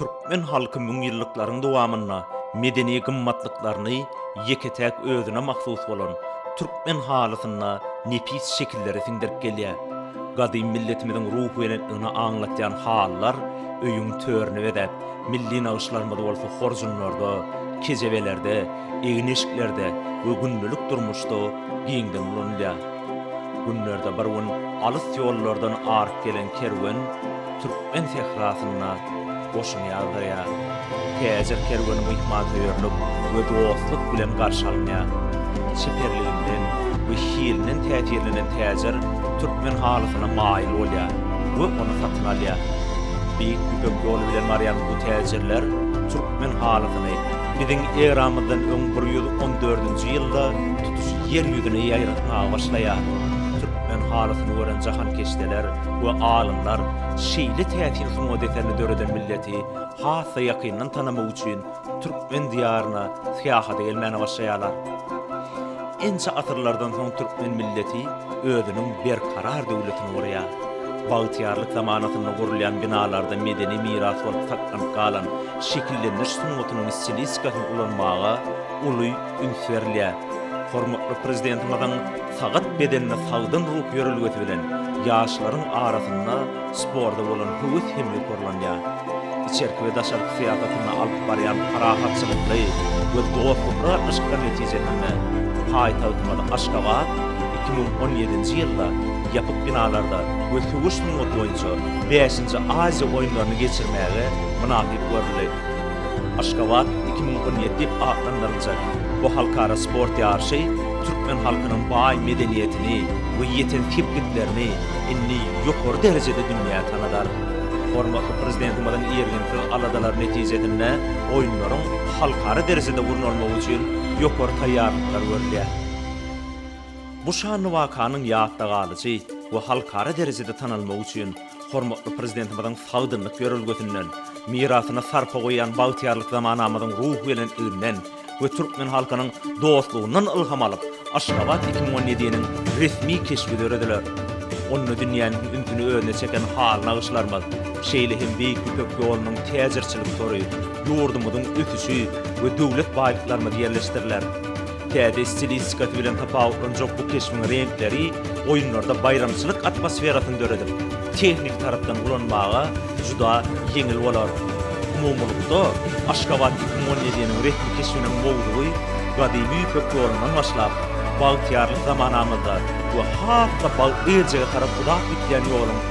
Türkmen halky müňýyllyklaryň dowamynda medeni gymmatlyklaryny ýeke-täk özüne mahsus bolan türkmen halysyna nepis şekilleri siňdirip gelýär. Gadym milletimiziň ruhubelentligini aňlatýan halylar öýüň törüni bezäp, milli nagyşlarymyz bolsa horjunlarda, kejebelerde, egin-eşiklerde we gündelik durmuşda giňden ulanylýar. Günlerde bir gün alys ýollardan aryp gelen kerwen türkmen sährasynda goşun ýazdyrýar. Täjir kerweni myhmansöýerlik we dostluk bilen garşy alynýar. Çeperliginden we hilinden täsirlenen täjir türkmen halysyna maýyl bolýar we ony satyn alýar. Beýik Ýüpek ýoly bilen barýan bu täjirler türkmen halysyny biziň eramyzdan öň bir ýüz on dördünji ýylda Ýer ýüzüne ýaýratmaga başlaýar. Türkmen halysyny gören jahankeşdeler we alymlar şeýle täsin sungat eserini döreden milleti has-da ýakyndan tanamak üçin türkmen diýaryna syýahata gelmäne başlaýarlar. Ençe asyrlardan soň türkmen milleti özüniň berkarar döwletini gurýar. Bagtyýarlyk zamanasynda gurulýan binalarda medeni miras bolup saklanyp galan şekillendiriş sungatynyň stilistikasyny ulanmaga uly üns berilýär. Hormatly Prezidentimiziň sagat bedenini sagdyn ruh ýörelgesi bilen ýaşlaryň arasynda sporta bolan höwes hem ýokarlanýar. Içerki we daşarky syýasatynda alyp barýan parahatçylykly we dostlukly gatnaşyklar netijesinde paýtagtymyz Aşgabat iki müň on ýedinji ýylda ýapyk binalarda we söweş sungaty boýunça bäşinji Aziýa oýunlaryny geçirmäge mynasyp görüldi. Aşgabat iki müň on ýedi diýip atlandyryljak bu halkara sport ýaryşy türkmen halkynyň baý medeniýetini we ýeten sepgitlerini indi ýokary derejede dünýä tanadar. Hormatly Prezidentimiziň irginsiz aladalary netijesinde Oýunlaryň halkara derejede gurnalmagy üçin ýokary taýýarlyklar görülýär. Bu şanly wakanyň ýatda galyjy we halkara derejede tanalmagy üçin Hormatly Prezidentimiziň sagdynlyk ýörelgesinden, mirasyna sarpa goýýan bagtyýarlyk zamanamyzyň ruhubelentliginden we türkmen halkynyň dostlugyndan ylham alyp, Aşgabat iki müň on ýediniň resmi keşbi dörediler. Onda dünýäniň ünsüni özüne çeken haly nagyşlarymyz, şeýle hem Beýik Ýüpek ýolunyň täjirçilik tory, ýurdumyzyň ösüşi we döwlet baýlyklarymyz ýerleşdiriler. Täze stilistikasy bilen tapawutlanjak bu keşbiň reňkleri oýunlarda baýramçylyk atmosferasyny döredip, tehniki tarapdan ulanmaga juda ýeňil bolar. Umumylykda, Aşgabat iki müň on ýediniň resmi keşbiniň mowzugy Gadymy Ýüpek ýolundan başlap, bagtyýarlyk zamanamyzda we has-da bagt-berjege tarap uzap gidýän ýoluň